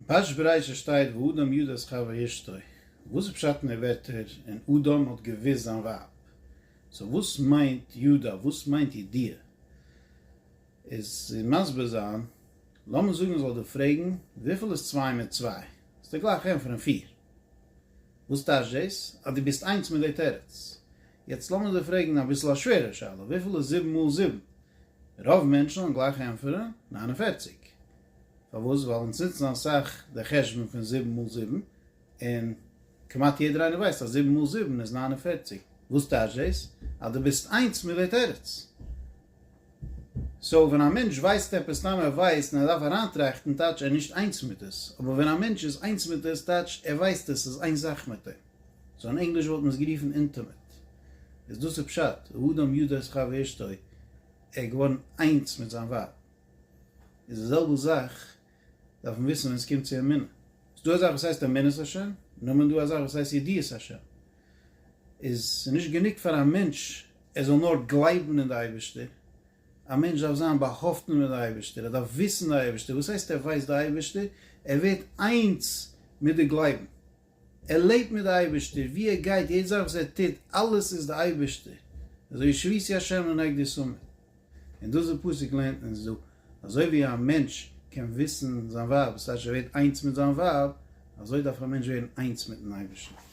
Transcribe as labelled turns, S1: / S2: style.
S1: פרשת בראשית שטייט ואדם ידע את חוה אשתו, וואס איז פשט אין די ווערטער און אדם האט געוואוסט זיין ווייב? סאו וואס מיינט ידע? וואס מיינט ידיעה? איז צו מסביר זיין, לאמיר זאגן איך זאל דיר פרעגן וויפיל איז צוויי מיט צוויי? זאלסטו גלייך ענטפערן פיר. וואס טייטש דאס? אז דו ביסט איינס מיט די תירוץ. יעצט לאמיר דיר פרעגן אביסל א שווערער שאלה, וויפיל איז זיבן מאל זיבן? רוב מענטשן וועלן גלייך ענטפערן, ניין און פערציג. פארוואס? ווייל אונז נוצן אסאך די חשבון פון זיבן מאל זיבן, און כמעט יעדער איינער ווייסט אז זיבן מאל זיבן איז נײַן און פֿערציק. וואס טייטש דאס? אז דו ביסט איינס מיט די תירוץ. סאו ווען א מענטש ווייסט עפעס סתם ער ווייסט און ער דארף אריינטראכטן טייטש ער איז נישט איינס מיט עס, אבער ווען א מענטש איז איינס מיט עס טייטש ער ווייסט עס איז איין זאך מיט אים. סאו אין ענגליש וואלט מען עס גערופן אינטימעט. איז דאס איז פשט, האדם יודע את חבירתו, ער איז געווארן איינס מיט זיין ווייב. איז די זעלבע זאך דארף מען וויסן ווען עס קומט צו אמונה. ס'איז דא א זאך וואס הייסט אמונת ה', נאמען דא א זאך וואס הייסט ידיעת ה'. איז ס'איז נישט גענוג פאר א מענטש ער זאל נאר גלייבן אין די אייבערשטער, א מענטש דארף זיין באהאפטן מיט די אייבערשטער, ער דארף וויסן די אייבערשטער, וואס הייסט ער ווייסט די אייבערשטער? ער ווערט איינס מיט די גלייבן, ער לעבט מיט די אייבערשטער, ווי ער גייט, יעדע זאך וואס ער טוט, אלעס איז די אייבערשטער, אזוי ווי שביתי השם לנהג די סומען, און דאס די פסוק לערנט אונז דא, אזוי ווי א מענטש קען וויסן זיין ווייב, דאס טייטש ער ווערט איינס מיט זיין ווייב, אזוי דארף א מענטש ווערן איינס מיטן אייבערשטן.